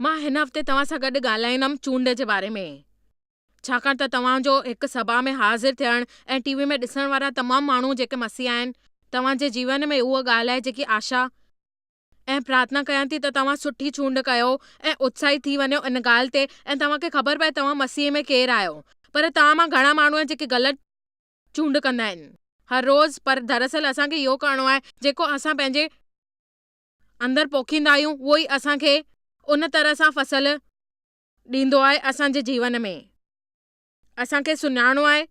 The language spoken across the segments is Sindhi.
مان هن هفتي توهان سان گڏ ڳالهائيندم چونڊ جي باري ۾، ڇاڪاڻ ته توهان جو هڪ سڀا ۾ حاضر ٿيڻ ۽ ٽي وي ۾ ڏسڻ وارا تمام ماڻهو جيڪي مسيحا آهن، توهان جي جيون ۾ اها ڳالهه آهي جيڪي آشا، ۽ پرارٿنا ڪيان ٿي ته توهان سٺي چونڊ ڪيو ۽ اتساهي ٿي وڃو ان ڳالهه تي ۽ توهان کي خبر پئي توهان مسيح ۾ ڪير آهيو. پر توهان مان گهڻا ماڻهو آهن جيڪي غلط چونڊ ڪندا آهن هر روز پر دراصل اسان کي اهو ڪرڻو آهي جيڪو اسان پنهنجي اندر پوکيندا آهيون اهو ئي اسان کي ان طرح سان فصل ڏيندو آهي اسان جي جيون ۾ اسان کي سڃاڻڻو آهي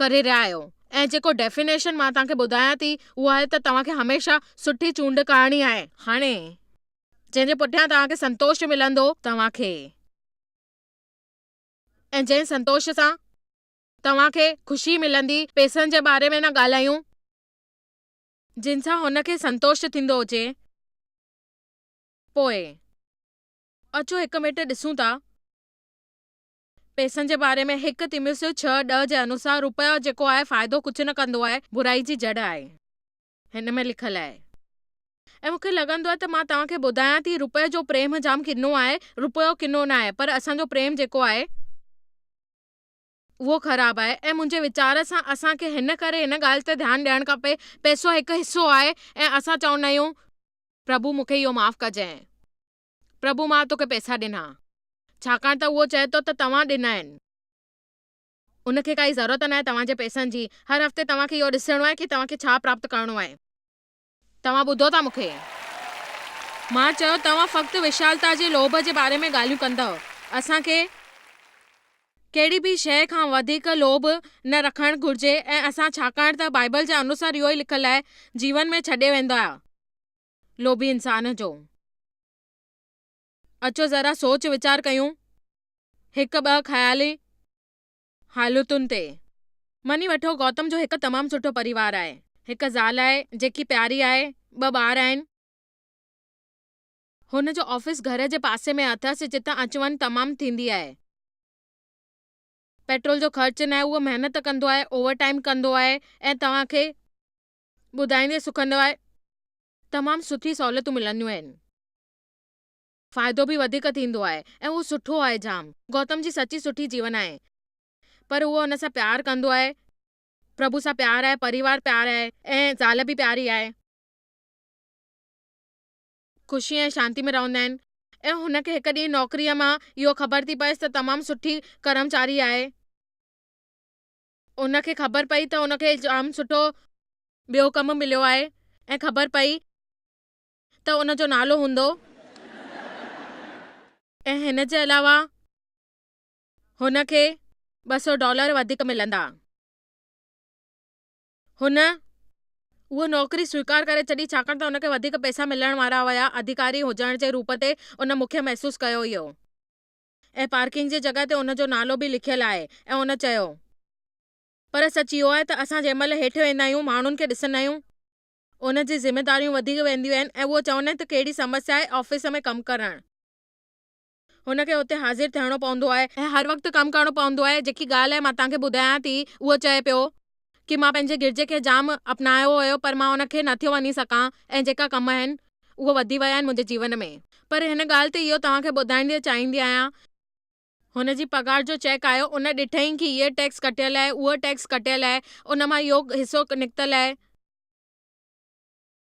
ڪري رهيا آهيو ۽ جيڪو ڊيفينيشن مان توهان کي ٻڌايان ٿي اهو آهي ته توهان کي هميشه سٺي چونڊ ڪرڻي آهي. هاڻي جنهن جي پٺيان توهان کي سنتوش ملندو توهان کي ۽ جنهن سنتوش سان توهان کي خوشي ملندي پئسن جي باري ۾ نه ڳالهايون جن سان هن کي سنتوش ٿيندو هجي پوء اچو هڪ ميٽ ڏسون ٿا پئسن جي باري ۾ هڪ تيموثيو ڇهه ڏهه جي انوسار روپيو جيڪو آهي فائدو ڪجهه نه ڪندو آهي برائي جي جڙ آهي هن ۾ لکيل آهي ۽ مون کي لڳندو آهي ته مان توهان کي ٻڌايان ٿي روپئي جو پريم جام ڪنو آهي روپيو ڪنو نه آهي پر اسان جو پريم جيڪو آهي اهو خراب آهي ۽ منهنجي ويچار سان اسان کي هن ڪري هن ڳالهه تي ڌيان ڏيڻ کپي پئسو هڪ حصو آهي ۽ اسان چوندا آهيون پرڀو مون کي اهو معاف ڪجانء. پرڀو مان توکي پئسا ڏنا، ڇاڪاڻ ته اهو چئي ٿو ته توهان ڏنا آهن. ان کي ڪائي ضرورت ناهي توهان جي پئسن جي. هر هفتي توهان کي اهو ڏسڻو آهي ڪي توهان کي ڇا پراپت ڪرڻو آهي. توهان ٻڌو ٿا مون کي؟ مان چيو، توهان فقط وشالتا جي لوڀ جي باري ۾ ڳالهيون ڪندؤ. اسان کي ڪهڙي به شيء کان وڌيڪ لوڀ نه رکڻ گهرجي ۽ اسان ڇاڪاڻ ته بائيبل جي انوسار اهو ئي لکيل آهي، جيون ۾ ڇڏي ويندؤ. لوڀي انسان جو. اچو ذرا سوچ ويچار ڪيون هڪ ٻه خيالي حالتن تي. مڃي وٺو گوتم جو هڪ تمام سٺو پريوار آهي. هڪ زال آهي جيڪي پياري آهي، ٻه ٻار آهن. هن جو آفيس گهر جي پاسي ۾ اٿس جتان اچ وڃ تمام ٿيندي آهي. پيٽرول جو خرچ ناهي اهو محنت ڪندو آهي اوور ٽائيم ڪندو آهي ۽ توهان کي ٻڌائيندي سکندو آهي. تمام سٺي سهولتون ملنديون آهن. فائدو به وڌيڪ ٿيندو آهي ۽ اهو سٺو آهي جام. گوتم جي سچي سٺي جيون آهي پر اهو ان سان پيار ڪندو آهي. پرڀو سان پيار آهي، پريوار پيار آهي ۽ زال به پياري آهي. خوشي ۽ شانتي ۾ رهندا آهن ۽ هن کي هڪ ڏينهن نوڪريء مان اهو خبر ٿي پئيس ته تمام سٺي ڪرمچاري آهي. ان کي خبر پئي ته ان کي جام سٺو ٻيو ڪم مليو آهي ۽ خبر پئي ته ان جو نالو هوندو ۽ هن جي علاوه هن کي ٻه سؤ ڊالر وڌيڪ ملندا. هن اها نوڪري سويڪار ڪري ڇڏي ڇاڪاڻ ته ان کي وڌيڪ پئسا ملڻ وارا هيا. اڌيڪاري هجڻ جي روپ تي ان مکيه محسوس ڪيو هيو. ۽ پارڪنگ جي جڳهه تي ان جو نالو به لکيل آهي ۽ هن چيو. پر سچ اهو آهي ته اسان جنهن مهل هيٺ ويندا آهيون ماڻهن کي ڏسندا آهيون. ان جي ذميداريون وڌيڪ وينديون آهن ۽ اهو چوندا آهن ته ڪهڙي سمسيا آهي آفيس ۾ ڪم ڪرڻ. هن کي اتي حاضر ٿيڻو پوندو آهي. ۽ هر وقت ڪم ڪرڻو پوندو آهي. جيڪي ڳالهه آهي مان توهان کي ٻڌايان ٿي. اهو چئي پيو. ڪي مان پنهنجي گرجي کي جام اپنايو هيو پر مان ان کي نه ٿيو وڃي سگهان ۽ جيڪا ڪم آهن اهي وڌي ويا آهن منهنجي جيون ۾. پر هن ڳالهه تي اهو توهان کي ٻڌائڻ چاهيندي آهيان. هن جي پگهار جو چيڪ آيو ان ڏٺائين ڪي هيء ٽيڪس ڪٽيل آهي اهو ٽيڪس ڪٽيل آهي ان مان اهو حصو نڪتل آهي.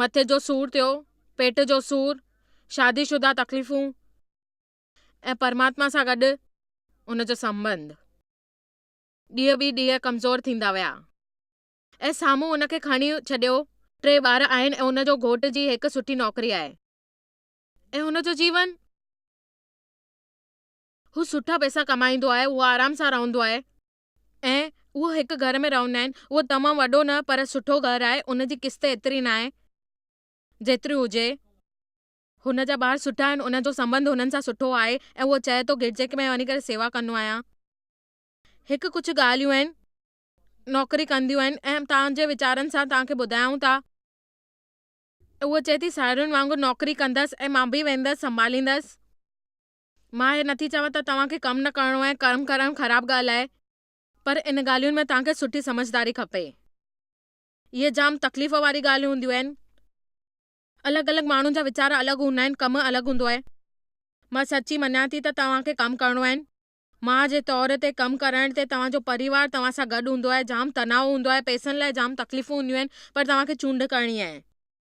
مٿي جو سور ٿيو، پيٽ جو سور، شادي شده تڪليفون ۽ پرماتما سان گڏ ان جو سنٻنڌ ڏينهن ٻي ڏينهن ڪمزور ٿيندا ويا ۽ سامهون ان کي کڻي ڇڏيو. ٽي ٻار آهن ۽ ان جو گهوٽ جي هڪ سٺي نوڪري آهي ۽ هن جو جيون هو سٺا پئسا ڪمائيندو آهي، هو آرام سان رهندو آهي ۽ اهو هڪ گهر ۾ رهندا آهن. اهو تمام وڏو نه پر سٺو گهر آهي. ان جي قسط ايتري ناهي جيتري هجي. هن جا ٻار سٺا آهن. ان جو سنٻنڌ هنن سان سٺو آهي ۽ اهو چئي ٿو گرجي ۾ وڃي ڪري سيوا ڪندو آهيان. هڪ ڪجهه ڳالهيون آهن. نوڪري ڪنديون آهن ۽ توهان جي ويچارن سان توهان کي ٻڌايون ٿا. اهو چئي ٿي ساهيڙين وانگر نوڪري ڪندس ۽ مان به ويندس سنڀاليندس. مان هي نٿي چوان ته توهان کي ڪم نه ڪرڻو ۽ ڪرم ڪرڻ خراب ڳالهه آهي پر ان ڳالهين ۾ توهان کي سٺي سمجهداري کپي. اهي جام تڪليف واري ڳالهيون هونديون آهن. الڳ الڳ ماڻهن جا ويچار الڳ هوندا آهن ڪم الڳ هوندو آهي. مان سچي مڃان ٿي ته توهان کي ڪم ڪرڻو آهن. ماء جي طور تي ڪم ڪرڻ تي توهان جو پريوار توهان سان گڏ هوندو آهي جام تناء هوندو آهي پئسن لاء جام تڪليفون هونديون آهن پر توهان کي چونڊ ڪرڻي آهي.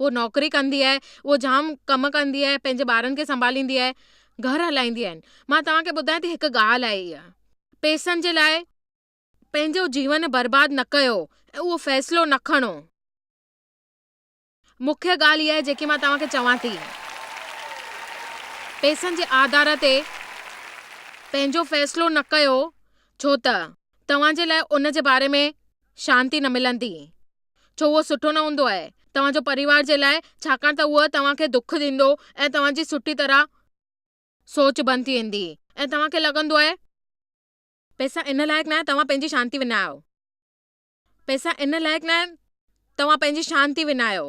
هوء نوڪري ڪندي آهي، هوء جام ڪم ڪندي آهي، پنهنجي ٻارن کي سنڀاليندي آهي، گهر هلائيندي آهن. مان توهان کي ٻڌايان ٿي هڪ ڳالهه آهي اها، پئسن جي لاء پنهنجو جيون برباد نه ڪيو ۽ اهو فيصلو نه کڻو. مکيه ڳالهه اها آهي جيڪي مان توهان کي چوان ٿي. پئسن جي آڌار تي پنهنجو فيصلو نه ڪيو ڇو ته توهان جي لاء ان جي باري ۾ شانتي نه ملندي. ڇو اهو سٺو نه هوندو آهي توهان جو پريوار جي لاء ڇاڪاڻ ته اهو توهان کي دک ڏيندو ۽ توهان جي سٺي طرح سوچ بند ٿي ويندي ۽ توهان کي لڳندو آهي پئسا ان لائق ناهي توهان پنهنجي شانتي وڃايو پئسا ان لائق ناهي توهان پنهنجي شانتي وڃايو.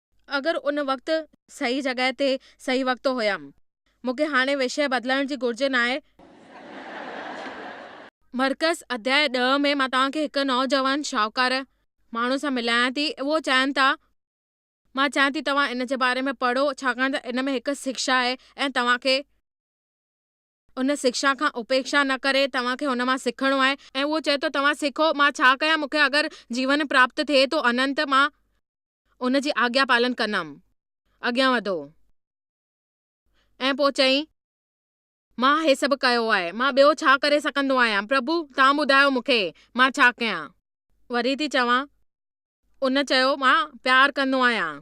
اگر ان وقت صحيح جڳهه تي صحيح وقت هيم. مون کي هاڻي وشيه بدلائڻ جي گهرج ناهي. مرڪز، اڌياء ڏهه ۾ مان توهان کي هڪ نوجوان شاهوڪار ماڻهو سان ملايان ٿي. اهو چائن ٿا. مان چاهيان ٿي توهان ان جي باري ۾ پڙهو ڇاڪاڻ ته ان ۾ هڪ سکشا آهي ۽ توهان کي. ان شڪشا کان اپيڪشا نه ڪري توهان کي ان مان سکڻو آهي ۽ اهو چئي ٿو توهان سکو مان ڇا ڪيان مون کي اگر جيون پراپت ٿئي ٿو اننت مان ان جي آگيا پالن ڪندم اڳيان وڌو ۽ پوء چئي مان هي سڀ ڪيو آهي مان ٻيو ڇا ڪري سگهندو آهيان پرڀو توهان ٻڌايو مون کي مان ڇا ڪيان وري ٿي چوان ان چيو، مان پيار ڪندو آهيان.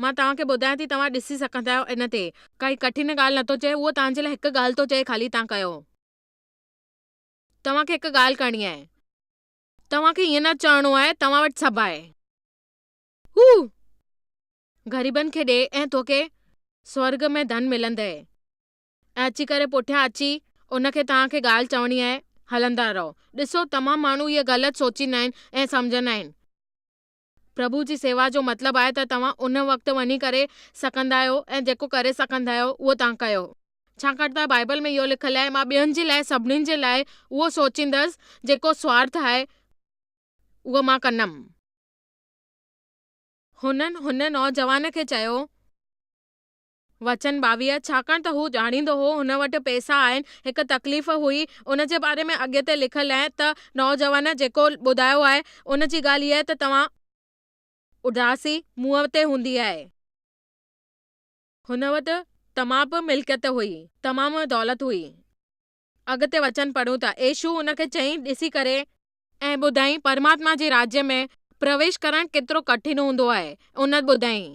مان توهان کي ٻڌايان ٿي، توهان ڏسي سگهندا آهيو ان تي. ڪائي ڪٺن ڳالهه نه ٿو چئي، اهو توهان جي لاء هڪ ڳالهه ٿو چئي خالي توهان ڪيو. توهان کي هڪ ڳالهه ڪرڻي آهي. توهان کي ائين نه چئڻو آهي، توهان وٽ سڀ آهي. هو غريبن کي ڏي ۽ توکي سورڳ ۾ ڌن ملندئي. ۽ اچي ڪري پٺيان اچي ان کي توهان کي ڳالهه چوڻي آهي، هلندا رهو. ڏسو تمام ماڻهو هيء غلط سوچيندا آهن ۽ سمجهندا آهن. پرڀو جي سيوا جو مطلب آهي ته توهان ان وقت وڃي ڪري سگهندا آهيو ۽ جيڪو ڪري سگهندا آهيو اهو توهان ڪيو. ڇاڪاڻ ته بائيبل ۾ اهو لکيل آهي، مان ٻين جي لاء سڀني جي لاء اهو سوچيندس، جيڪو سوارٿ آهي اهو مان ڪندم. هنن هن نوجوان کي چيو. وچن ٻاويهه، ڇاڪاڻ ته هو ڄاڻيندو هو هن وٽ پئسا آهن. هڪ تڪليف هئي، ان جي باري ۾ اڳتي لکيل آهي ته نوجوان جيڪو ٻڌايو آهي، ان جي ڳالهه اها ته توهان. اداسي منهن تي هوندي آهي. هن وٽ تمام به ملڪيت هئي. تمام دولت هئي. اڳتي وچن پڙهون ٿا. ايشوء هن کي چيائين، ڏسي ڪري. ۽ ٻڌائين، پرماتما جي راڄ ۾ پرويش ڪرڻ ڪيترو ڪٺن هوندو آهي. ان ٻڌائين.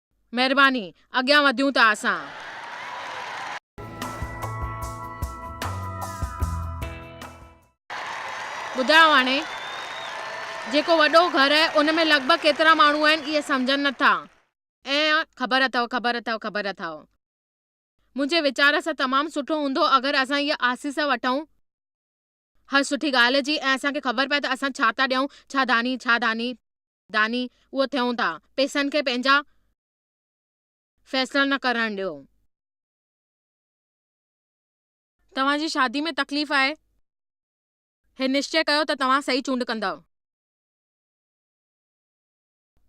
مهرباني اڳيان وڌيون ٿا اسان. ٻڌايو هاڻي جيڪو وڏو گهر آهي ان ۾ لڳ ڀڳ ڪيترا ماڻهو آهن اهي سمجهن نه ٿا ۽ خبر اٿئو خبر اٿئو خبر اٿئو منهنجي ويچار سان تمام سٺو هوندو اگر اسان اها آسيس وٺئون هر سٺي ڳالهه جي ۽ اسان کي خبر پئي ته اسان ڇا ٿا ڏيئون ڇا داني ڇا داني داني اهو ٿيون ٿا. پيسن کي پنهنجا فيصلا نه ڪرڻ ڏيو. توهان جي شادي ۾ تڪليف آهي. هي نشچي ڪيو ته توهان صحيح چونڊ ڪندؤ.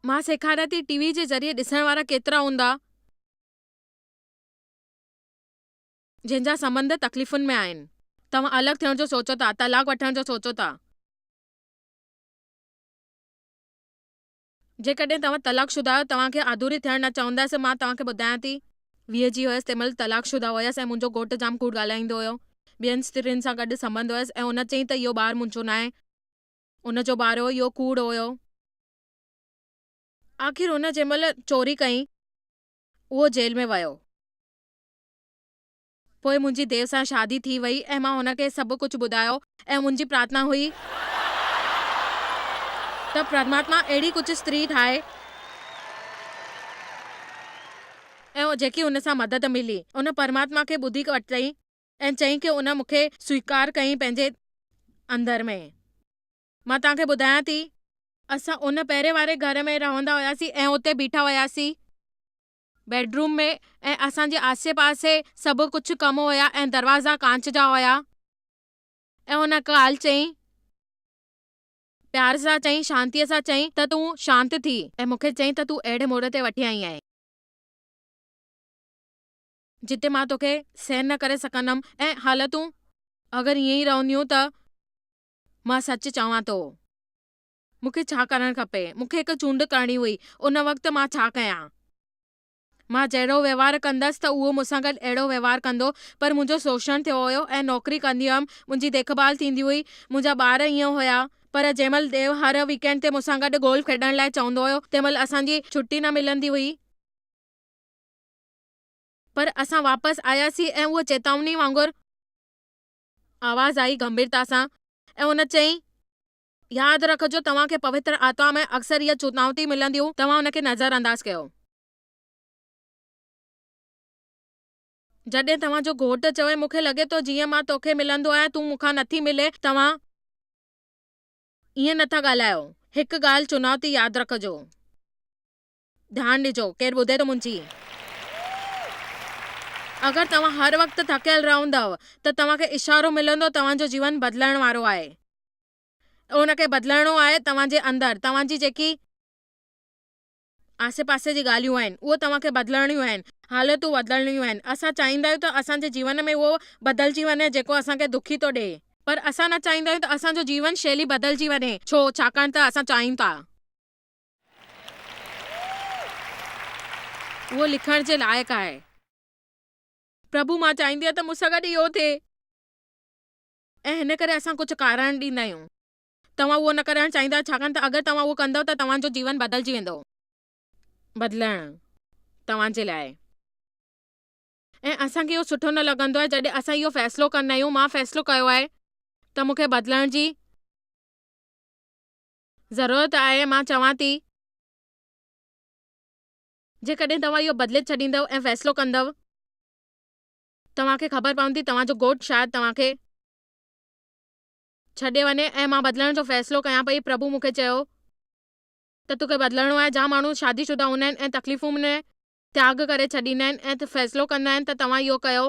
مان سيکاريان ٿي ٽي وي جي ذريعي ڏسڻ وارا ڪيترا هوندا جنهن جا سنٻنڌ تڪليفن ۾ آهن. توهان الڳ ٿيڻ جو سوچو ٿا، طلاق وٺڻ جو سوچو ٿا. جيڪڏهن توهان طلاق شده آهيو، توهان کي آڌوري ٿيڻ نه چوندس. مان توهان کي ٻڌايان ٿي. ويهه جي هيس، تنهن مهل طلاق شده هيس ۽ منهنجو گهوٽ جام ڪوڙ ڳالهائيندو هيو. ٻين استرين سان گڏ سمهندو هيس ۽ ان چيائين ته اهو ٻار منهنجو ناهي. ان جو ٻار هو. اهو ڪوڙ هيو. آخر هن جنهن مهل چوري ڪئي، اهو جيل ۾ ويو. پوء منهنجي ديو سان شادي ٿي وئي ۽ مان هن کي سڀ ڪجهه ٻڌايو ۽ منهنجي پرارٿنا هئي ته پرماتما اهڙي ڪجهه استري ٺاهي ۽ جيڪي هن سان مدد ملي ان پرماتما کي ٻڌي ورتئين ۽ چيائين ڪي ان مون کي سويڪار ڪيائين پنهنجي اندر ۾. مان توهان کي ٻڌايان ٿي. اسان ان پهرين واري گهر ۾ رهندا هياسين ۽ اتي بيٺا هياسين. بيڊروم ۾ ۽ اسان جي آسي پاسي سڀ ڪجهه ڪم هيا ۽ دروازا ڪانچ جا هيا ۽ هن ڪالهه چيائين پيار سان چيائين شانتيء سان چيائين ته تون شانت ٿي ۽ مون کي چيائين ته تون اهڙي موڙ تي وٺي آئي آهين جتي مان توکي سهن نه ڪري سگهندم ۽ حالتون اگر ائين ئي رهنديون ته مان سچ چوان ٿو. مون کي ڇا ڪرڻ کپي؟ مون کي هڪ چونڊ ڪرڻي هئي، ان وقت مان ڇا ڪيان؟ مان جهڙو وهنوار ڪندس ته اهو مون سان گڏ اهڙو وهنوار ڪندو، پر منهنجو سوشڻ ٿيو هيو ۽ نوڪري ڪندي هيم، منهنجي ديکڀال ٿيندي هئي، منهنجا ٻار ائين هيا. پر جنهن مهل ديو هر ويڪينڊ تي مون سان گڏ گولف کيڏڻ لاء چوندو هيو، تنهن مهل اسان جي ڇٽي نه ملندي هئي. پر اسان واپس آياسين ۽ اهو چيتاوني وانگر آواز آئي، گنڀيرتا سان، ۽ هن چيائين، ياد رکجو توهان کي پوتر آتما ۾ اڪثر اهي چونائتيون ملنديون توهان ان کي نظر انداز ڪيو. جڏهن توهان جو گهوٽ چوي مون کي لڳي ٿو جيئن مان توکي ملندو آهيان تون مون کان نٿي ملين توهان ائين نٿا ڳالهايو هڪ ڳالهه چونائتي ياد رکجو. ڌيان ڏجو، ڪير ٻڌي ٿو منهنجي. اگر توهان هر وقت ٿڪيل رهندؤ ته توهان کي اشارو ملندو توهان جو جيون بدلڻ وارو آهي ان کي بدلڻو آهي توهان جي اندر توهان جي جيڪي آسي پاسي جي ڳالهيون آهن اهي توهان کي بدلڻيون آهن حالتون بدلڻيون آهن اسان چاهيندا آهيون ته اسان جي جيون ۾ اهو بدلجي وڃي جيڪو اسان کي دکي ٿو ڏئي پر اسان نه چاهيندا آهيون ته اسان جو جيون شيلي بدلجي وڃي ڇو ڇاڪاڻ ته اسان چاهيون ٿا. اهو لکڻ جي لائق آهي. پرڀو مان چاهيندي آهيان ته مون سان گڏ اهو ٿئي ۽ هن ڪري اسان ڪجهه ڪارڻ ڏيندا آهيون. توهان اهو نه ڪرڻ چاهيندا ڇاڪاڻ ته اگر توهان اهو ڪندؤ ته توهان جو جيون بدلجي ويندو. بدلڻ توهان جي لاء آهي ۽ اسان کي اهو سٺو نه لڳندو آهي جڏهن اسان اهو فيصلو ڪندا آهيون مان فيصلو ڪيو آهي ته مون کي بدلڻ جي ضرورت آهي، مان چوان ٿي. جيڪڏهن توهان اهو بدلي ڇڏيندؤ ۽ فيصلو ڪندؤ، توهان کي خبر پوندي، توهان جو گهوٽ شايد توهان کي ڇڏي وڃي ۽ مان بدلڻ جو فيصلو ڪيان پئي. پرڀو مون کي چيو ته تو کي بدلڻو آهي. جا ماڻهو شادي شده هوندا آهن ۽ تڪليفون ۾ تياڳ ڪري ڇڏيندا آهن ۽ فيصلو ڪندا آهن ته توهان اهو ڪيو.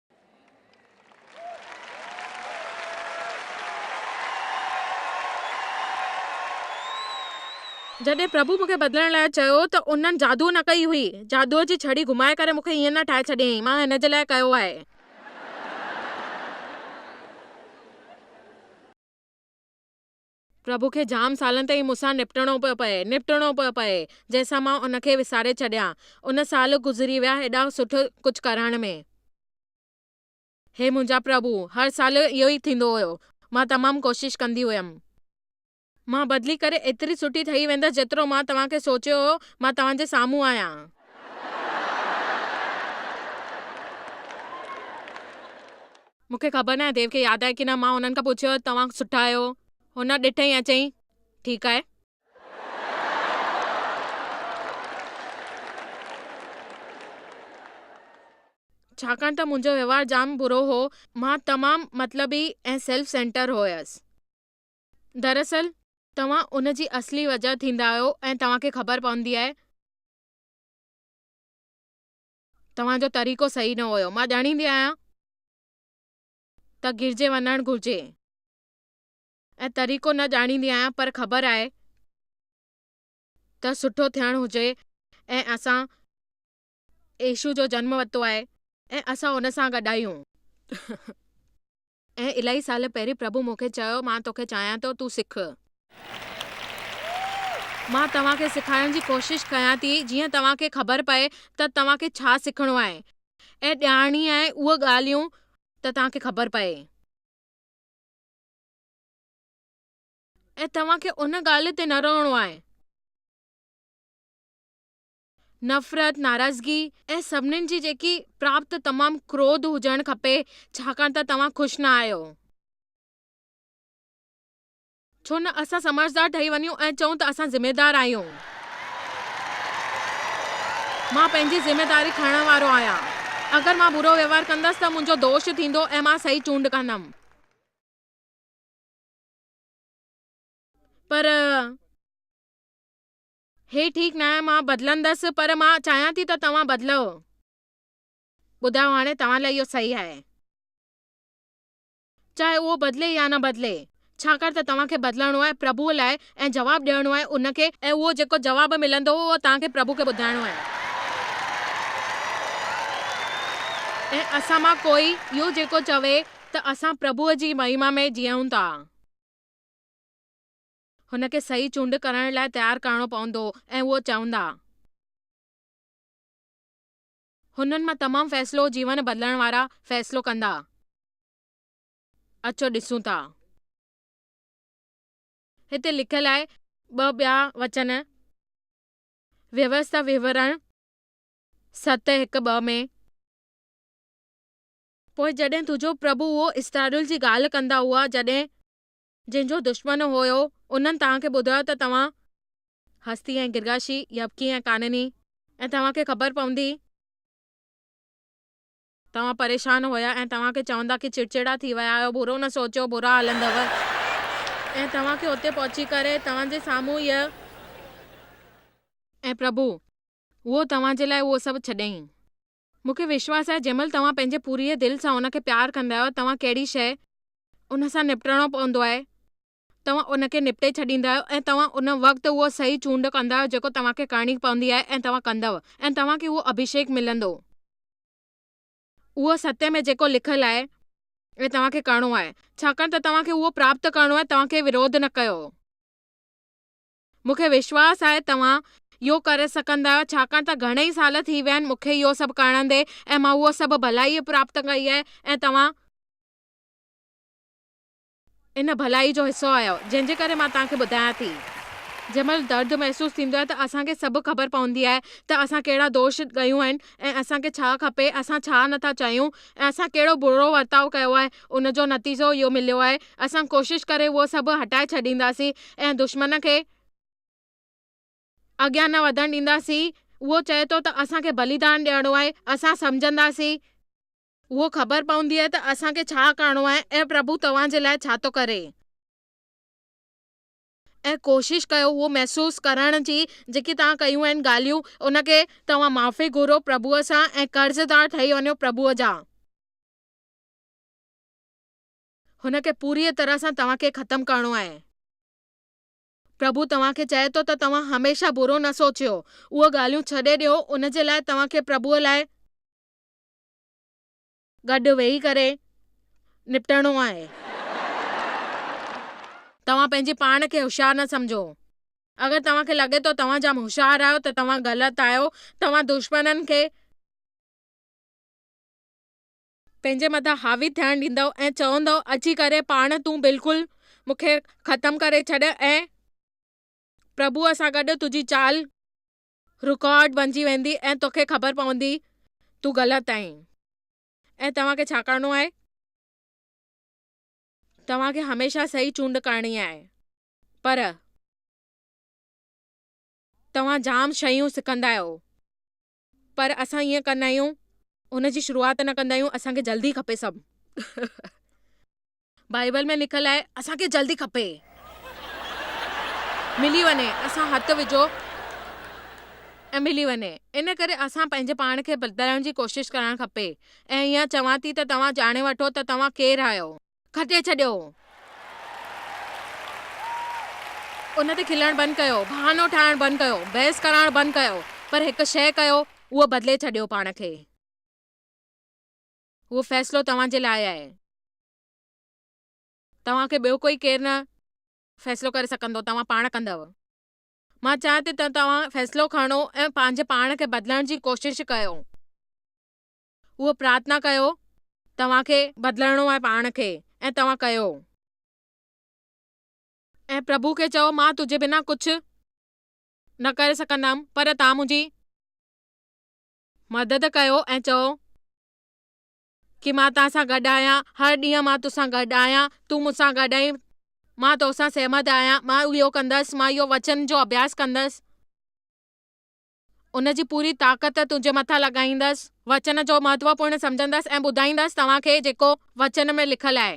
جڏهن پرڀو مون کي بدلڻ لاء چيو ته انهن جادو نه ڪئي هئي. جادوء جي ڇڙي گهمائي ڪري مون کي ائين نه ٺاهي ڇڏيائين. مان هن جي لاء ڪيو آهي. پرڀو کي جام سالن تائين مون سان نبٽڻو پيو پئي، نبٽڻو پيو پئي، جنهن سان مان ان کي وساري ڇڏيان. ان سال گذري ويا هيڏا سٺو ڪجهه ڪرڻ ۾. هي منهنجا پرڀو! هر سال اهو ئي ٿيندو هيو. مان تمام ڪوشش ڪندي هيم. مان بدلي ڪري ايتري سٺي ٺهي ويندس جيترو مان توهان کي سوچيو هيو. مان توهان جي سامهون آهيان. مون کي خبر ناهي ديو کي ياد آهي ڪي نه، مان هنن کان پڇيو ته توهان سٺا آهيو؟ هن ڏٺئي ۽ چيائين، ٺيڪ آهي. ڇاڪاڻ ته منهنجو وهنوار جام برو هو، مان تمام مطلبي ۽ سيلف سينٽر هيس. دراصل توهان ان جي اصلي وجهه ٿيندا آهيو ۽ توهان کي خبر پوندي آهي. توهان جو طريقو صحيح نه هيو. مان ڄاڻيندي آهيان ته گرجي وڃڻ گهرجي ۽ طريقو نه ڄاڻيندي آهيان پر خبر آهي ته سٺو ٿيڻ هجي ۽ اسان يسوع جو جنم ورتو آهي ۽ اسان ان سان گڏ آهيون. ۽ الائي سال پهرين پرڀو مون کي چيو، مان توکي چاهيان ٿو، تون سک. مان توهان کي سکائڻ جي ڪوشش ڪيان ٿي، جيئن توهان کي خبر پئي ته توهان کي ڇا سکڻو آهي ۽ ڄاڻڻي آهي اهي ڳالهيون ته توهان کي خبر پئي ۽ توهان کي ان ڳالهه تي نه رهڻو آهي. نفرت، ناراضگي ۽ سڀني جي جيڪي پراپت تمام ڪروڌ هجڻ کپي ڇاڪاڻ ته توهان خوش نه آهيو. ڇو نه اسان سمجهدار ٺهي وڃون ۽ چئون ته اسان ذميدار آهيون. مان پنهنجي ذميداري کڻڻ وارو آهيان. اگر مان برو وهنوار ڪندس ته منهنجو دوش ٿيندو ۽ مان صحيح چونڊ ڪندم. پر. هي ٺيڪ ناهي مان بدلندس پر مان چاهيان ٿي ته توهان بدلئو. ٻڌايو هاڻي توهان لاء اهو صحيح آهي. چاهي اهو بدلي يا نه بدلي. ڇاڪاڻ ته توهان کي بدلڻو آهي پرڀوء لاء ۽ جواب ڏيڻو آهي ان کي ۽ اهو جيڪو جواب ملندو اهو توهان کي پرڀوء کي ٻڌائڻو آهي. ۽ اسان مان ڪوئي اهو جيڪو چوي ته اسان پرڀوء جي مهما ۾ جيئون ٿا. هن کي صحيح چونڊ ڪرڻ لاء تيار ڪرڻو پوندو ۽ اهو چوندا. هنن مان تمام فيصلو جيون بدلڻ وارا فيصلو ڪندا. اچو ڏسون ٿا. هتي لکيل آهي ٻه ٻيا وچن ويوستا وهنورڻ ست هڪ ٻه ۾. پوء جڏهن تنهنجو پرڀو اهو اسرائيل جي ڳالهه ڪندا هئا جڏهن. جن جو دشمن هيو، انهن توهان کي ٻڌايو ته توهان، هستي ۽ گرگاشي، يبڪي ۽ ڪانني، ۽ توهان کي خبر پوندي، توهان پريشان هيا ۽ توهان کي چوندا ڪي چڙچڙا ٿي ويا آهيو، برو نه سوچيو، برا هلندؤ، ۽ توهان کي اتي پهچي ڪري، توهان جي سامهون هيء. ۽ پرڀو، هو توهان جي لاء اهو سڀ ڇڏيائين. مون کي وشواس آهي جنهن مهل توهان پنهنجي پوريء دل سان ان کي پيار ڪندا آهيو توهان ڪهڙي شيء ان سان نبٽڻو پوندو آهي توهان ان کي نبٽي ڇڏيندا آهيو ۽ توهان ان وقت اهو صحيح چونڊ ڪندا آهيو جيڪو توهان کي ڪرڻي پوندي آهي ۽ توهان ڪندؤ ۽ توهان کي اهو اڀيشيڪ ملندو اهو ستيه ۾ جيڪو لکيل آهي ۽ توهان کي ڪرڻو آهي ڇاڪاڻ ته توهان کي اهو پراپت ڪرڻو آهي توهان ڪنهن وروڌ نه ڪيو هو. مون کي وشواس آهي توهان اهو ڪري سگهندا آهيو ڇاڪاڻ ته گهڻي ئي سال ٿي ويا آهن مون کي اهو سڀ ڪرڻندي ۽ مان اهو سڀ ڀلائي پراپت ڪئي آهي ۽ توهان ان ڀلائي جو حصو آهيو جنهن جي ڪري مان توهان کي ٻڌايان ٿي جنهن مهل درد محسوس ٿيندو آهي ته اسان کي سڀ خبر پوندي آهي ته اسان ڪهڙا دوش ڪيون آهن ۽ اسان کي ڇا کپي اسان ڇا نٿا چاهيون ۽ اسان ڪهڙو برو ورتاء ڪيو آهي ان جو نتيجو اهو مليو آهي. اسان ڪوشش ڪري اهو سڀ هٽائي ڇڏينداسين ۽ دشمن کي اڳيان نه وڌڻ ڏينداسين. اهو چئي ٿو ته اسان کي بليدان ڏيڻو آهي. اسان سمجهنداسين. اهو خبر پوندي ته اسان کي ڇا ڪرڻو آهي ۽ پرڀو توهان جي لاء ڇا ٿو ڪري. ۽ ڪوشش ڪيو اهو محسوس ڪرڻ جي جيڪي توهان ڪيون آهن ڳالهيون ان کي توهان معافي گهرو پرڀوء سان ۽ قرضدار ٺهي وڃو پرڀوء جا. هن کي پوريء طرح سان توهان کي ختم ڪرڻو آهي. پرڀو توهان کي چئي ٿو ته توهان هميشه برو نه سوچيو. اهي ڳالهيون ڇڏي ڏيو، ان جي لاء توهان کي پرڀوء لاء گڏ ويهي ڪري نپٽڻو آهي. توهان پنهنجي پاڻ کي هوشيار نه سمجهو. اگر توهان کي لڳي ٿو توهان جام هوشيار آهيو ته توهان غلط آهيو. توهان دشمنن کي پنهنجي مٿان حاوي ٿيڻ ڏيندؤ ۽ چوندؤ اچي ڪري پاڻ تون بلڪل مون کي ختم ڪري ڇڏ ۽ پرڀوء سان گڏ تنهنجي چال رڪارڊ بنجي ويندي ۽ توکي خبر پوندي تون غلط آهين ۽ توهان کي ڇا ڪرڻو آهي؟ توهان کي هميشه صحيح چونڊ ڪرڻي آهي پر توهان جام شيون سکندا آهيو پر اسان ائين ڪندا آهيون ان جي شروعات نه ڪندا آهيون اسان کي جلدي کپي سڀ بائيبل ۾ لکيل آهي اسان کي جلدي کپي ملي وڃي اسان هٿ وجهو ۽ ملي وڃي ان ڪري اسان پنهنجي پاڻ کي بدلائڻ جي ڪوشش ڪرڻ کپي ۽ ائين چوان ٿي ته توهان ڄاڻي وٺو ته توهان ڪير آهيو. کٽي ڇڏيو. ان تي کلڻ بند ڪيو، بهانو ٺاهڻ بند ڪيو، بحث ڪرائڻ بند ڪيو، پر هڪ شيء ڪيو، اهو بدلي ڇڏيو پاڻ کي. اهو فيصلو توهان جي لاء آهي. توهان کي ٻيو ڪوئي ڪير نه فيصلو ڪري سگهندو، توهان پاڻ ڪندؤ. مان چاهيان ٿي ته توهان فيصلو کڻو ۽ پنهنجي پاڻ کي بدلڻ جي ڪوشش ڪيو. هو پرارٿنا ڪيو، توهان کي بدلڻو آهي پاڻ کي ۽ توهان ڪيو. ۽ پرڀو کي چئو مان تنهنجي بنا ڪجهه نه ڪري سگهندم پر توهان منهنجي مدد ڪيو ۽ چئو ڪي مان توهان سان گڏ آهيان هر ڏينهن مان توسان گڏ آهيان تون مون سان گڏ آهين مان توسان سهمت آهيان مان اهو ڪندس مان اهو وچن جو اڀياس ڪندس. ان جي پوري طاقت تنهنجي مٿان لڳائيندس. وچن جو مهتوپورن سمجهندس ۽ ٻڌائيندس توهان کي جيڪو وچن ۾ لکيل آهي،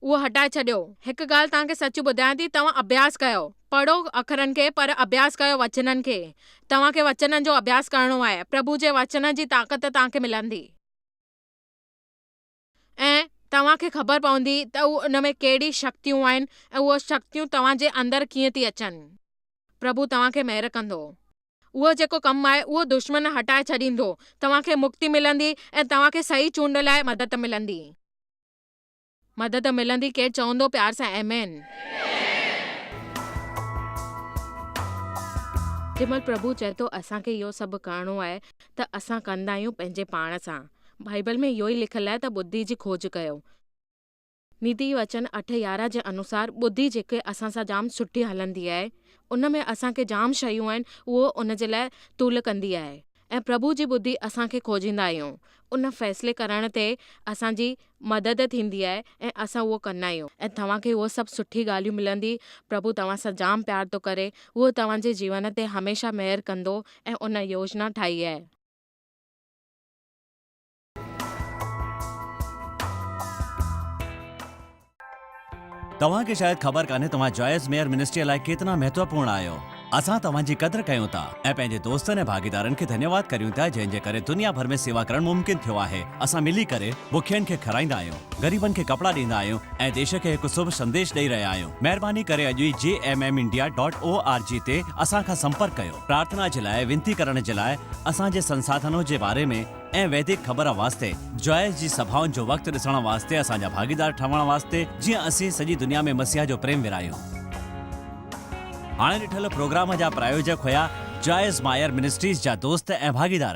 اهو هٽائي ڇڏيو. هڪ ڳالهه توهان کي سچ ٻڌايان ٿي، توهان اڀياس ڪيو. پڙهو اکرن کي، پر اڀياس ڪيو وچنن کي. توهان کي وچنن جو اڀياس ڪرڻو آهي. پرڀو جي وچن جي طاقت توهان کي ملندي. ۽ توهان کي خبر پوندي ته اهو ان ۾ ڪهڙي شڪتيون آهن ۽ اهو شڪتيون توهان جي اندر ڪيئن ٿي اچن. پرڀو توهان کي مهر ڪندو. اهو جيڪو ڪم آهي اهو دشمن هٽائي ڇڏيندو. توهان کي مڪتي ملندي ۽ توهان کي صحيح چونڊ لاء مدد ملندي. مدد ملندي ڪير چوندو پيار سان آمين. جنهن مهل پرڀو چئي ٿو اسان کي اهو سڀ ڪرڻو آهي ته اسان ڪندا آهيون پنهنجي پاڻ سان. بائيبل ۾ اهو ئي لکيل آهي ته ٻڌي جي کوج ڪيو. نيتي وچن اٺ يارهن جي انوسار ٻڌي جيڪي اسان سان جام سٺي هلندي آهي، ان ۾ اسان کي جام شيون آهن اهو ان جي لاء تول ڪندي آهي ۽ پرڀو جي ٻڌي اسان کي کوجيندا آهيون ان فيصلي ڪرڻ تي اسان جي مدد ٿيندي آهي ۽ اسان اهو ڪندا آهيون ۽ توهان کي اهو سڀ سٺي ڳالهيون ملندي پرڀو توهان سان جام پيار ٿو ڪري اهو توهان جي جيون تي هميشه مهر ڪندو ۽ ان يوجنا ٺاهي آهي. توهان کي شايد خبر ڪانهي توهان جائز ميئر منسٽري لاء ڪيتنا مهتوپورن آهيو اسان توهان جي قدر ڪيون ٿا ۽ پنهنجي دوستن ۽ ڀاڳيدارن کي ڌنيواد ڪريون ٿا جنهن جي ڪري دنيا ڀر ۾ سيوا ڪرڻ ممڪن ٿيو آهي اسان ملي ڪري بکين کي کارائيندا آهيون غريبن کي ڪپڙا ڏيندا آهيون ۽ ديش کي هڪ سڀ سنديش ڏئي رهيا آهيون مهرباني ڪري اڄ ئي G M M India dot O R G تي اسان کان سمپرڪ ڪيو پرارٿنا جي لاء وينتي ڪرڻ جي لاء اسان جي سنساڌنو جي باري ۾ ۽ ويدڪ خبر واسطي جوائس جي سڀائن جو وقت ڏسڻ واسطي اسان جا ڀاڳيدار ٺهڻ واسطي جيئن اسين سڄي دنيا ۾ مسيح جو پريم ورهايون. هاڻي ڏٺل پروگرام جا پرايوجڪ هيا جوائس مائر منسٽريز جا دوست ۽ ڀاڳيدار.